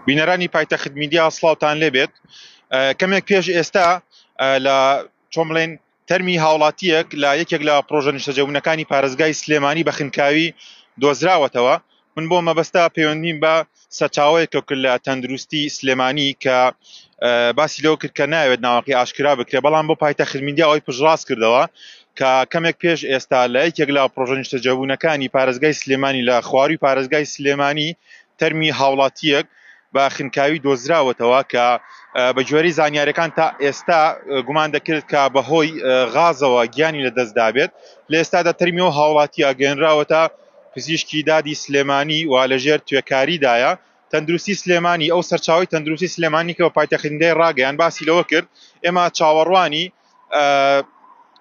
بینەرانی پایتەخت میدیا سلااوان لێبێت کەمێک پێش ئێستا لە چۆمڵێن تەرمی هاوڵاتیەک لە یەکێک لە پرۆژە نیشتەجەبوونەکانی پارێزگای سلێمانی بە خنکاوی دۆزراوەتەوە من بۆ مەبەستا پەیوەندیم بە سەرچاوەیە کە کرد لە تەندروستی سلێمانی کە باسی لەو کرد کە ناوێت ناوەکەی ئاشکرا بکرێ بەڵام بۆ پایتە خرمیدیاەوەی پشڕاست کردەوە کە کەمێک پێش ئێستا لە یەکێک لە پرۆژە نیشتەجێبوونەکانی پارێزگای سلێمانی لە خوارووی پارێزگای سلێمانی تەرمی هاوڵاتییەک بە خنکاوی دۆزراوەتەوە کە بە گوێرەی زانیاریەکان تا ئێستا گومان دەکرێت کە بەهۆی غازەوە گیانی لە دەستدابێت لە ئێستادا تەرمی و هاوڵاتی ئاگەێنراوەتە پزیشکی دادی سلێمانی و لەژێر توێکاریدایە تەندروستی سلێمانی ئەو سەرچاوی تەندروستی سلێمانی کە بە پایتەخینگای ڕاگەیان باسی لەوە کرد ئێمە چاوەڕوانی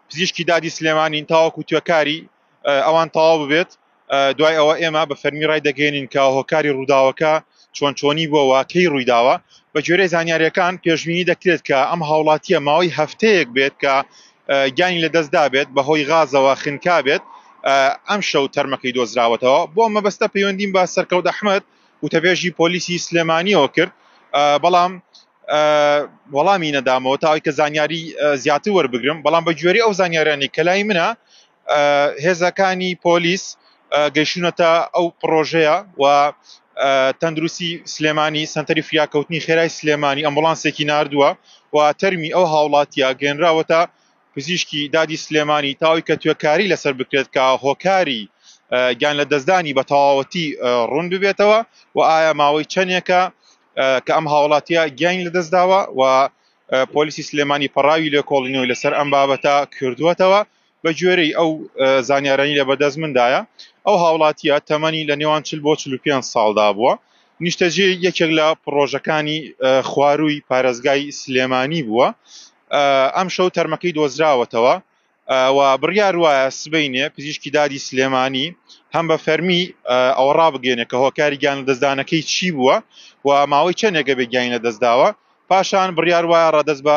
پزیشکی دادی سلێمانین تاوەکو توێکاری ئەوان تەواو ببێت دوای ئەوە ئێمە بە فەرمی ڕای دەگەێنین کە هۆکاری ڕووداوەکە چۆن چۆنی بۆ واکەی ڕوویداوە بە جۆرەی زانیاریەکان پێشببینی دەکرێت کە ئەم هاوڵاتیە ماوەی هەفتەیەک بێت کە گیانی لە دەستدا بێت بەهۆی غازەوە خنکا بێت ئەم شەو تەرمەکەی دۆزراوەتەوە بۆ مەبەستە پەیوەندیم بە سەرکەوت ئەحمد وتەبێژی پۆلیسی سلێمانیەوە کرد بەڵام وەڵامی نەدامەوە تا ئەوکە زانیاری زیاتر وەربگرم بەڵام بە گوێری ئەو زانیارانی کە لای منە هێزەکانی پۆلیس گەیشتونەتە ئەو پرۆژەیە و تەندروستی سلێمانی سنتەری فریاکەوتنی خێرای سلێمانی ئەمبولانسێکی نردووە و تەرمی ئەو هاوڵاتیا گەێنراوەتە پزیشکی دادی سلێمانی تاوی کە توێکاری لەسەر بکرێت کە هۆکاری گیان لە دەستدانی بە تەواوەتی ڕوون ببێتەوە و ئایا ماوەی چەندێکە کە ئەم هاوڵاتیە گیانی لەدەستداوە و پۆلیسی سلێمانی پەڕاوی لێکۆڵینەوەی لەسەر ئەم بابەتە کردووەتەوە بە گوێرەی ئەو زانیارانی لە بەدەست مندایە ئەو هاوڵاتیە تەمەنی لە نێوان چل بۆ 45 ساڵدا بووە نیشتەجێ یەکێک لە پرۆژەکانی خوارووی پارێزگای سلێمانی بووە ئەم شەو تەرمەکەی دۆزراوەتەوە و بڕیار وایە سبەینێ پزیشکی دادی سلێمانی هەم بە فەرمی ئەوە ڕابگەێنێ کە هۆکاری گیان لە دەستدانەکەی چی بووە و ماوەی چەندێکە بێ گیانی لە دەستداوە پاشان بڕیار وایە ڕادەست بە